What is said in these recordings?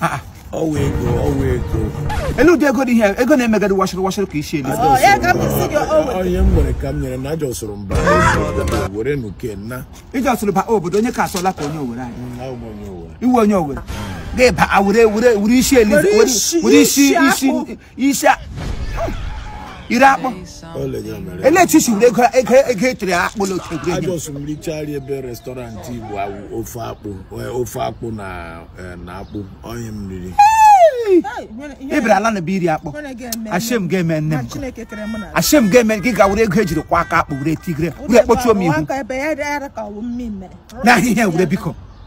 Ah, ah. ọwa ego ọwa ego ele ụdị ego dị ihe ego na-emegadi washịrị washịrị ka isi elu Oya, come and see your own. onye m nwere ka m nyere na ajọ soro mba were nuke na iji ọsụrụ ba obodo onye ka asọla ka onye owere anyị na ụmụ onye ụwa iwe onye o were gị gbaa were were were isi elize Were isi- were isi isi isi akpụ. isi a- iri akpụ O legara mere. ele etu isi were ego ego ego etere akpụ na oke egwuregwu Ajọs m richara ebe restọrantị Igbo awụ ofe akpụ eh, ofe akpụ na eh, na akpụ onye m riri. ị bịara ala na be iri akpụ shame ga-eme nne m nkọ. Chineke kere mụ na shame ga-eme gị ga were ego ejiri kwa aka akpụ were tigre were kpọchuo m ihu ebe ya dara ka ọ bụ mmiri mere n'ahịa ihe were biko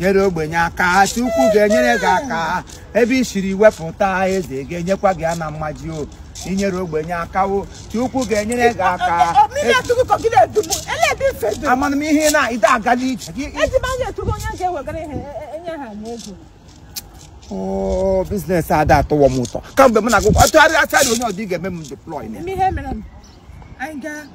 nyere ogbenye aka Chukwu ga-enyere gị aka ebe i siri wepụta eze ga-enyekwa gị ya na mmaji o i nyere ogbenye aka o Chukwu ga-enyere gị aka amana m ihe na ide agala ije gị oo biznes ada atọwọ m ụtọ kamgbe m na-agụkwa atụgharị atụgharị onye ọ dị ga-eme m deploy na ya.